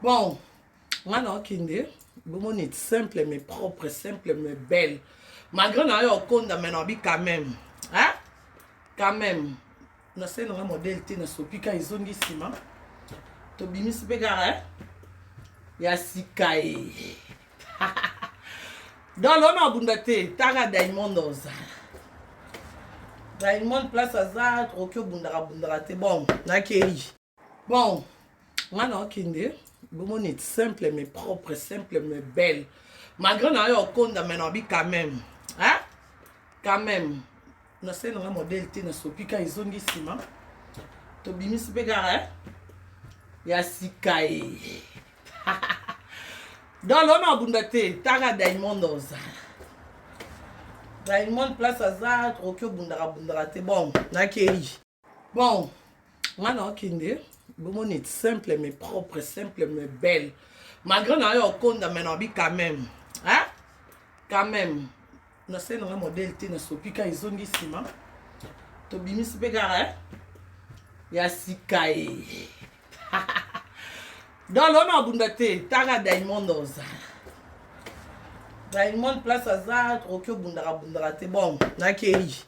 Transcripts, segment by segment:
bon nga naokende bomoni simple mais propre simple mais belle malgré na yo okonda mais naobi quand même hein? quand même nasali nanga modele te nasopi ka ezongi nsima tobimisi mpe kaka eh? ya sika ye donc lona abunda te taka diamond ozala diamond place aza okoki obundaka bundaka te bon nakei bon nga na okende bomoni simple mais propre simple mais belle malgré na yo okonda mais nabi quand même hein? quand même nasali nanga modele te nasopi ka ezongi nsima tobimisi mpe kaka eh? ya sika ye donc lona abunda te taka diamond oza diamond place aza troki obundaka bundaka te bon nakei bon nga na okende bomoni simple mais propre simple mais belle malgré na yo okonda mais nabi quand même hein? quand même nasali nanga modele te nasopi ka ezongi nsima tobimisi mpe kaka eh? ya sika ye donc lona abunda te taka diamond oza diamond place aza okoki obundaka bundaka te bon nakei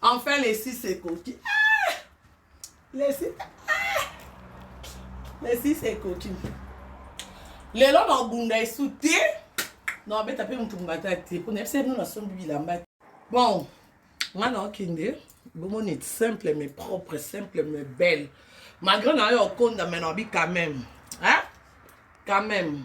Enfin lesi sekoki. Ah! Lesi ah! Lesi sekoki. Lelo na obunda esu te. Na obeta pe mutu mbata te. Pona yebisa bino na sombi bilamba. Bon, nga na okende bomoni simple mais propre, simple mais belle. Malgré na yo okonda mais na obi quand même. Hein? Quand même.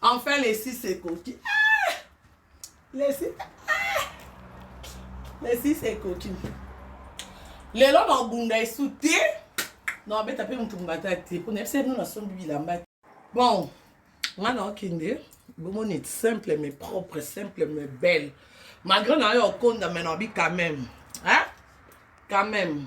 Enfin lesi sekoki. Ah! Lesi ah! Lesi sekoki. Lelo na obunda esu te. Na obeta pe mutu mbata te. Pona yebisa bino na sombi bilamba. Bon, nga na okende bomoni simple mais propre, simple mais belle. Malgré na yo okonda mais na obi quand même. Hein? Quand même.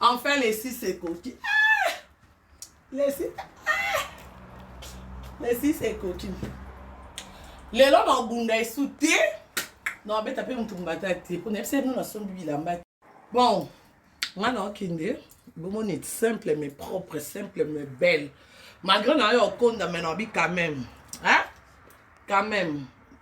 Enfin Lesi sekoki. Ah! Lesi ah! Lesi sekoki. Lelo na obunda esu te. Na obeta pe mutu mbata te. Pona yebisa bino na sombi bilamba. Bon, nga na okende bomoni simple mais propre simple mais belle malgré na yo okonda mais na obi quand même hein quand même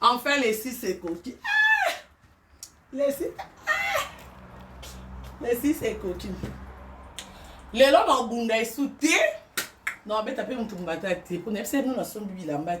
Enfin lesi sekoki. Ah! Lesi ah! Lesi sekoki. Lelo na obunda esu te. Na obeta pe mutu mbata te. Pona yebisa bino na sombi bilamba